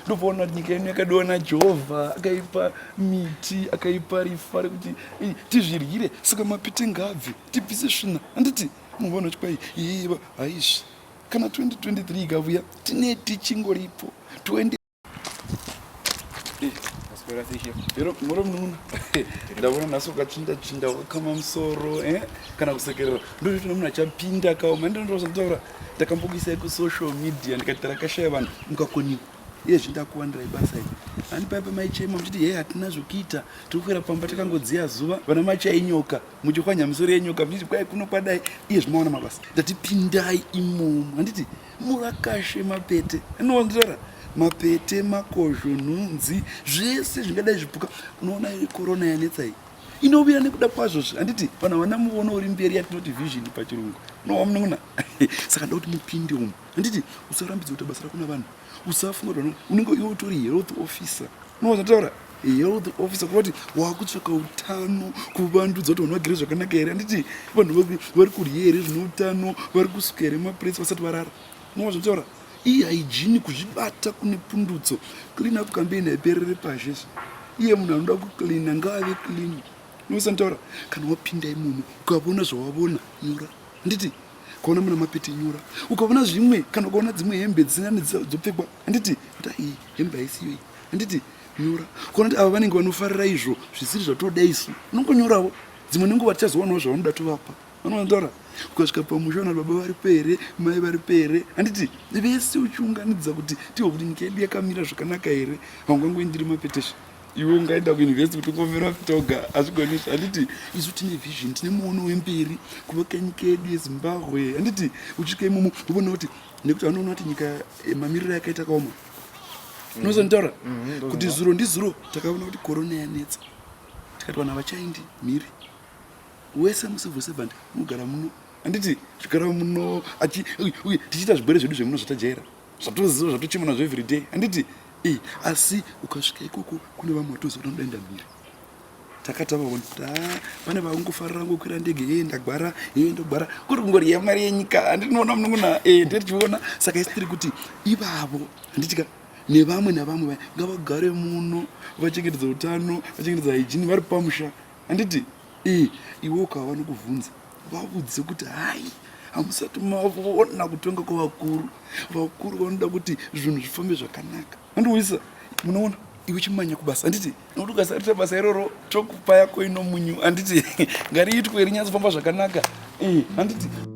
ndopaona kuti nyika ino yakadiwa najehovha akaipa miti akaipa rifa rekuti tizviryire saka mapite ngabve tibvise svina handiti munhu vaona kuti kwai yeiva haizvi kana 2023 ikavuya tine tichingoripo 20 muromununa ndavona nhasi ukachinda chinda wakakama musoro eh? kana kusekerera ndoita nomunhu achapinda kawo mandindozotaura ndakambokuisai kusocial media ndikati tarakashaya vanhu mukakoniwa iye zvindakuwandirai basa iri ani paipa maichema muchiti hei hatina zvokuita tikukwira pamba takangodziya zuva vana machainyoka muchikwanya misoro yenyoka muchiti kwai kuno kwadai iye zvimaona mabasa ndatipindai imomo handiti Murakashe, mapete anonzvera mapete, makozho, nhunzi zvese zvingadai zvipuka. Unoona iri korona yanetsa iyi inouya nekuda kwazvo zve handiti vanhu havana muono uri mberi yatinoti vision pachirungu unowa munun'una saka nda kuti mupinde umu handiti usarambidza kuita basa rako navanhu usafunga kuti unenge iwe utori health officer unowa zvataura health officer kuvati wakutsvaka utano kuvandudza kuti vanhu vagere zvakanaka here handiti vanhu vari kudye here zvine utano vari kusuka here mapuresi vasati varara nova zvataura iye haijini kuzvibata kune pundutso clean up campaign haiperere pashi izvi iye munhu anoda kucleana ngaave clean nosantaura kana wapinda imomo ukavona zvawavona nyora handiti ukaona muna mapeti nyora ukavona zvimwe kana ukaona dzimwe hembe dzisina nedzopfekwa handiti kuti aii hembe haisiyoyi handiti nyora kona kuti ava vanenge vanofarira izvo zvisiri zvatoda isu unongonyorawo dzimwe nenguva tichazowanawo zvavanoda tovapa vanoanzora ukasvika pamusha vana baba vari pere mai vari pere handiti vese uchiunganidza kuti tiwe kuti nyika yedu yakamira zvakanaka here haungangoindiri mapetesha iwe ungaenda kuuniversity kuti ungomira vitoga hazvigonisi handiti isu tine vision tine muono wemberi kuvaka nyika yedu yezimbabwe handiti uchisvika imomo uvoona kuti nekuti vanoona kuti nyika eh, mamiriro yakaita kaoma unozonditaura mm-hmm, kuti zuro ndizuro takaona kuti korona yanetsa tikati vanhu havachaindi mhiri wese mucivil servant unogara muno handiti zvigara muno uye tichiita zvigwere zvedu zvemuno zvatajaira zvatoziva zvatochema nazvo everyday handiti e asi ukasvika ikoko kune vamwe vatoziva kuti vanodaenda mhiri takatavaona kuti ah, pane vakungofarira ngokwira ndege ee ndagwara ee ndogwara kuri kungori yamari yenyika handinoona munongona ee eh, ndirichiona saka isi tiri kuti ivavo handitika nevamwe navamwe vaya ngavagare muno vachengetedza utano vachengetedza hygiene vari pamusha handiti ee eh, iwe ukava vanokubvunza vavudze kuti hai hamusati mavona kutonga kwavakuru vakuru vanoda kuti zvinhu zvifambe zvakanaka andiuyisa munoona iwe chimanya kubasa handiti nokuti ukasarita basa iroro chokupa yako ino munyu handiti ngariitwe rinyatsofamba zvakanaka handiti eh,